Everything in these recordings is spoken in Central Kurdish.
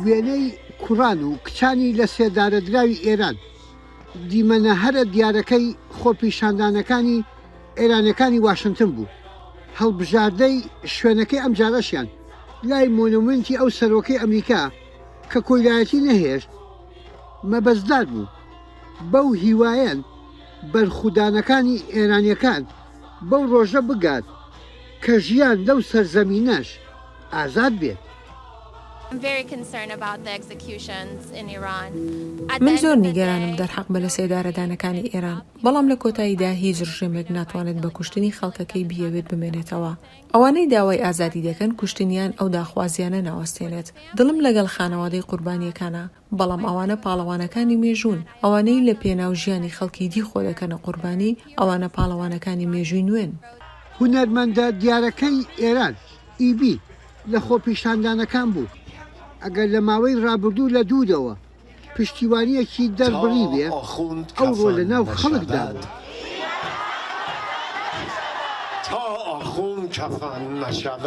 وێنەی کوڕان و کچانی لەسێدارەدراوی ئێران، دیمەنە هەرە دیارەکەی خۆپیشاندانەکانی ئێرانیەکانی واشنتن بوو، هەڵبژاردەی شوێنەکەی ئەمجارەشیان لای مۆنۆمێنتی ئەو سەرۆکەی ئەمریکا کە کۆیلایەتی نەهێشت مەبەستدار بوو، بەو هیوایەن بەرخودانەکانی ئێرانیەکان، بەو ڕۆژە بگات کە ژیان لەو سەرزەمینەش ئازاد بێت. من زۆر نیگەرانم دەرحەق بە لەسێدارەدانەکانی ئێران، بەڵام لە کۆتاییدا هیچ ڕژێمێک ناتوانێت بە کوشتنی خەڵکەکەی بیەوێت بمێنێتەوە. ئەوانەی داوای ئازادی دەکەن کوشتنیان ئەو داخوازییانە ناوەستێنێت. دڵم لەگەڵ خانەوادەی قوربانییەکانە. بەڵام ئەوانە پاڵەوانەکانی مێژوون، ئەوانەی لە پێناو ژیانی خەڵکی دی خۆ دەکەنە قوربانی، ئەوانە پاڵەوانەکانی مێژووی نوێن. هونەرمەندە دیارەکەی ئێران، ئیبی، لە خۆپیشاندانەکان بوو، ئەگەر لە ماوەی ڕابردوو لە دوورەوە پشتیوانییەکی دەربڕیبێ، ئەوڕۆ لە ناو خەڵکدا بوو. تا ئاخوند کەفەن نەشود.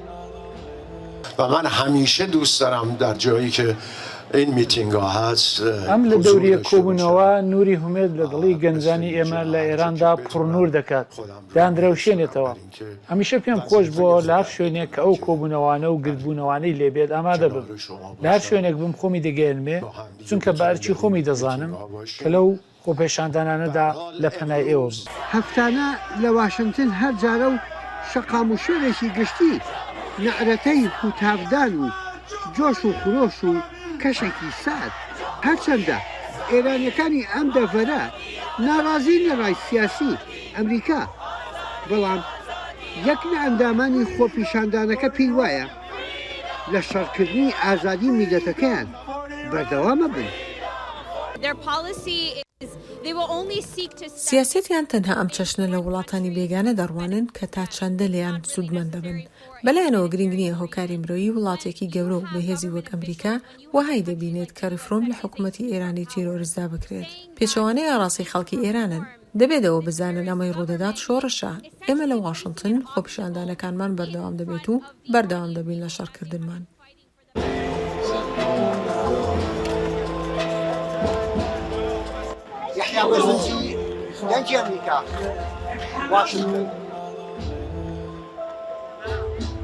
ئەم لە دەوریە کۆبوونەوە نوری هومێد لە دڵی گەنجانی ئێمە لە ئێراندا پڕنور دەکات داندرەوشێنێتەوە هەمیشە پێم خۆش بووە لە هەر شوێنێک کە ئەو کۆبوونەوانە و گردبوونەوانەی لێبێت ئامادە بم لە هەر شوێنێک بم خۆمی دەگەیەنمێ چونکە بە ئەرکی خۆمی دەزانم کە لەو خۆپێشاندانانەدا لە پەنای ئێوە بوو. هەفتانە لە واشنتن هەر جارە و شەقام و شوێنێکی گشتی نەعرەتەی هوتافدان و جۆش و خرۆش و کەشێکی سارد. هەرچەندە ئێرانیەکانی ئەم دەڤەرە ناڕازین لە ڕای سیاسی ئەمریکا، بەڵام یەک لە ئەندامانی خۆپیشاندانەکە پێی وایە، لە شەڕکردنی ئازادی میلەتەکەیان بەردەوامە بن. سیاسەتیان تەنها ئەم چەشنە لە وڵاتانی بێگانە دەڕوانن کە تا چەندە لێیان سودمەند دەبن. بەلایانەوە گرینگ نیە هۆکاری مرۆیی وڵاتێکی گەورە و بەهێزی وەک ئەمریکا وەهای دەبینێت کە ریفرۆم لە حکومەتی ئێرانی تیرۆرستدا بکرێت. پێچەوانەی ئاراسی خەڵکی ئێرانن. دەبێت ئەوە بزانن ئەمەی ڕوودەدات شۆڕشە. ئێمە لە واشنتن خۆپیشاندانەکانمان بەردەوام دەبێت و بەردەوام دەبین لە شەڕکردنمان. یەحیا بەزنجی، دەنگی ئەمریکا، واشنتن.